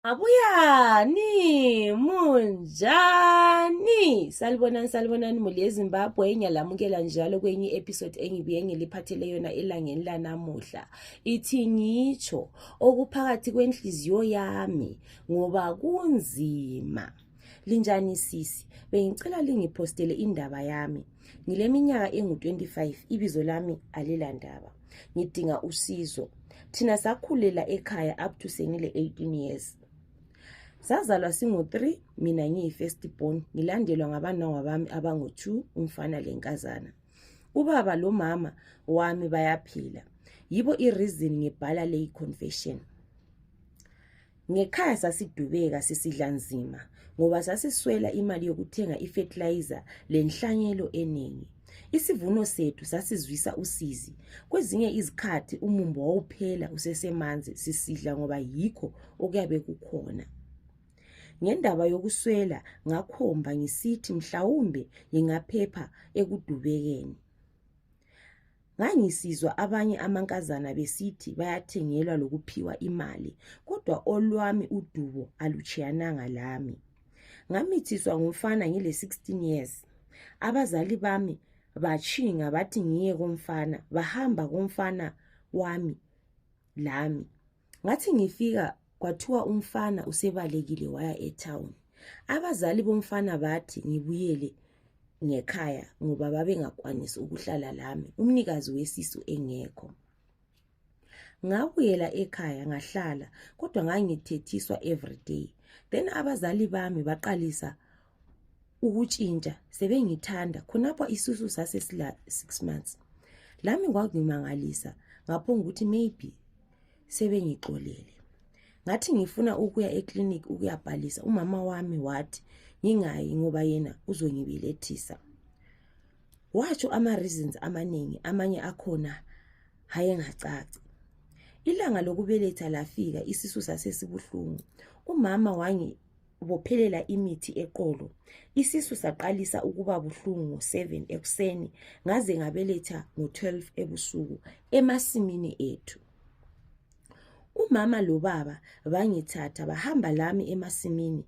Abuyani, munjani? Salibonani, salibonani muli eZimbabwe. Ngiyalamukela njalo kwenye episode engibuye ngiliphathele yona elangeni lanamuhla. Ithi ngitsho okuphakathi kwenhliziyo yami ngoba kunzima. linjani sisi bengicela lingiphostele indaba yami ngileminyaka engu-25 ibizo lami alilandaba ngidinga usizo thina sakhulela ekhaya up to sengile 18 years sazalwa singu-3 mina ngiyi-first born ngilandelwa ngabanongwa bami abangu-2 umfana lenkazana ubaba lomama wami bayaphila yibo ireason ngibhala leyi confession Ngekhaya sasidubeka sisidla nzima ngoba sasiswela imali yokuthenga ifethilayiza lenhlanyelo eningi. Isivuno sethu sasizwisa usizi. Kwezinye izikhathi umumbo wawuphela usesemanzi sisidla ngoba yikho okuyabe kukhona. Ngendaba yokuswela ngakhomba ngisithi mhlawumbe ngingaphepha ekudubekeni. Ngangisizwa abanye amankazana besithi bayathengelwa lokuphiwa imali, kodwa olwami udubo alutshiyananga lami. Ngamithiswa ngumfana ngile 16 years. Abazali bami batshinga bathi ngiye komfana, bahamba komfana wami lami. ngathi ngifika kwathiwa umfana usebalekile waya etown abazali bomfana bathi ngibuyele ngekhaya ngoba babengakwanisi ukuhlala lami umnikazi wesisu engekho ngabuyela ekhaya ngahlala kodwa ngangithethiswa everyday then abazali bami baqalisa ukutshintsha sebengithanda khonapho isisu sasesila six months lami kwakungimangalisa ngaphonga ukuthi maybe sebengixolele ngathi ngifuna ukuya eclinic ukuyabhalisa umama wami wathi ngingayi ngoba yena uzongibelethisa watsho ama-reasons amaningi amanye akhona hayengacaci ilanga lokubeletha lafika isisu sasesibuhlungu umama wangi bophelela imithi eqolo isisu saqalisa ukuba buhlungu ngo-7 ekuseni ngaze ngabeletha ngo-12 ebusuku emasimini ethu umama lobaba bangithatha bahamba lami emasimini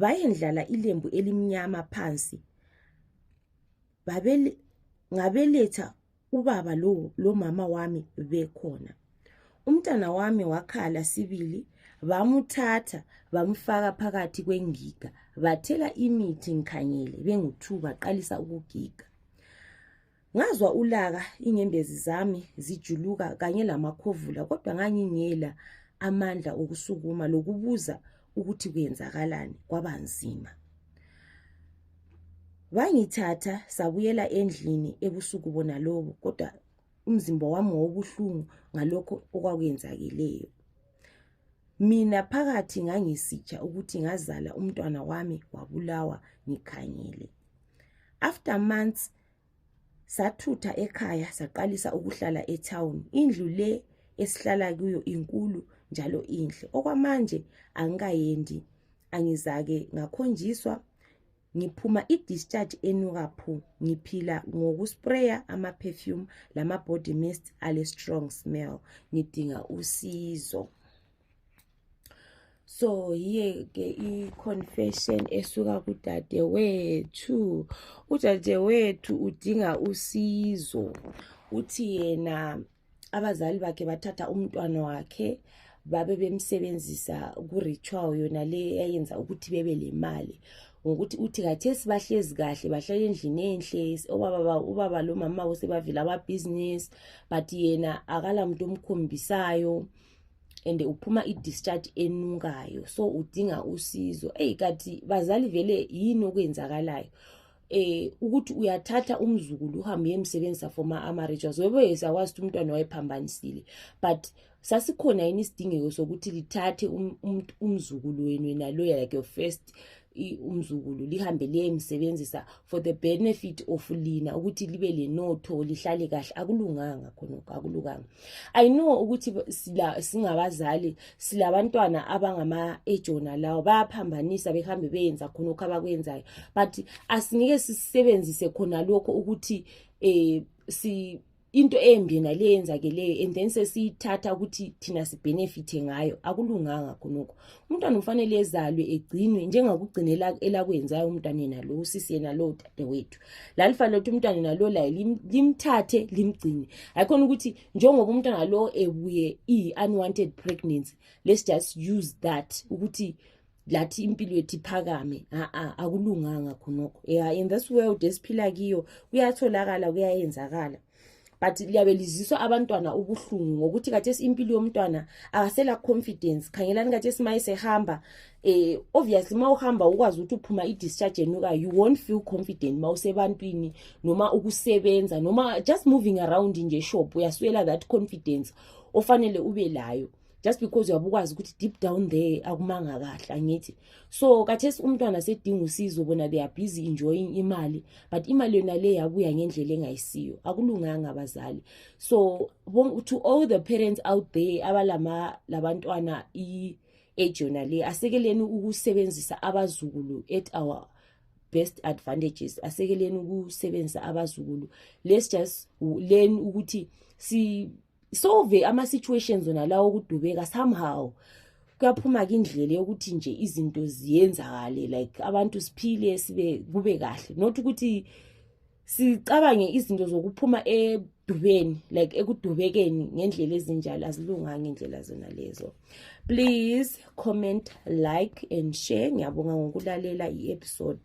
bayendlala ilembu elimnyama phansi ngabeletha ubaba lo lomama wami bekhona umntana wami wakhala sibili bamuthatha bamfaka phakathi kwengiga bathela imithi ngikhangele bengu-two baqalisa ukugiga ngazwa ulaka inyembezi zami zijuluka kanye lamakhovula kodwa ngangingela amandla okusukuma lokubuza ukuthi kuyenzakalani kwabanzima bangithatha sabuyela endlini ebusuku bona lobo kodwa umzimba wami wawubuhlungu ngalokho okwakuyenzakeleyo mina phakathi ngangisitsha ukuthi ngazala umntwana wami wabulawa ngikhangele after months sathutha ekhaya saqalisa ukuhlala etown indlu le esihlala kuyo inkulu njalo inhle okwamanje angikayendi angizake ngakhonjiswa ngiphuma i-discharge enuka phu ngiphila ngokuspraya ama-perfume lama-body mist ale-strong smell ngidinga usizo so yiyeke i-confession esuka kudadewethu udadewethu udinga usizo uthi yena abazali bakhe bathatha umntwana wakhe babe bemsebenzisa ku-ritual yona le yayenza ukuthi bebe le mali ngokuthi uthi khathesi bahlezi kahle bahlala endlini enhle obaba ubaba lomama usebavela ababhizinisi but yena akala muntu omkhombisayo and uphuma i-discharge enukayo so udinga usizo eyi kathi bazali vele yini okwenzakalayo eh ukuthi uyathatha umzukulu uhambe uyemsebenzisa for ma-amarituals webe sakwazi ukuthi umntwana wayephambanisile but sasikhona yini isidingeko sokuthi lithathe um, um, umzukulu wenu yena loya like your first umzukulu lihambe liyemsebenzisa for the benefit of lina ukuthi libe lenotho lihlale kahle akulunganga khonokho akulunganga i know ukuthi sila singabazali silabantwana abangama ejona lawo bayaphambanisa behambe beyenza khonokho abakwenzayo but asingeke sisebenzise khona lokho ukuthi eh si into embi yena le yenzakeleyo and then sesiyithatha ukuthi thina sibhenefithe ngayo akulunganga khonokho umntwana ufanele ezalwe egcinwe njengakugcina elakwenzayo umntwana yena lo usisi yena lo dadewethu lalifanele ukuthi umntwana yena lo laye limthathe limgcine ayikhona ukuthi njengoba umntwana lo ebuye i-unwanted pregnancy let's just use that ukuthi lathi impilo yethu iphakame a-a akulunganga khonokho ya in this world esiphila kiyo kuyatholakala kuyayenzakala but liyabe liziswa abantwana ubuhlungu ngokuthi kathesi impilo yomntwana akasela confidence khangelani kathesi ma esehamba eh obviously ma uhamba ukwazi ukuthi uphuma i-discharge enuka you won't feel confident ma usebantwini noma ukusebenza noma just moving around nje shop uyaswela that confidence ofanele ube layo just because uyabe ukwazi ukuthi deep down there akumanga kahle angithi so kathesi umntwana sedinga usizo bona they are busy enjoying imali but imali yona le yabuya ngendlela engayisiyo akulunganga abazali so to all the parents out there abalama labantwana i-age yona le asekeleni ukusebenzisa abazukulu at our best advantages asekeleni ukusebenzisa abazukulu let's just learn ukuthi si solve ama situations wona lawo okudubeka somehow kuyaphuma ke indlela yokuthi nje izinto ziyenzakale like abantu siphile sibe kube kahle not ukuthi sicabange izinto zokuphuma edubeni like ekudubekeni ngendlela ezinjalo azilunganga indlela zona lezo please comment like and share ngiyabonga ngokulalela i-episode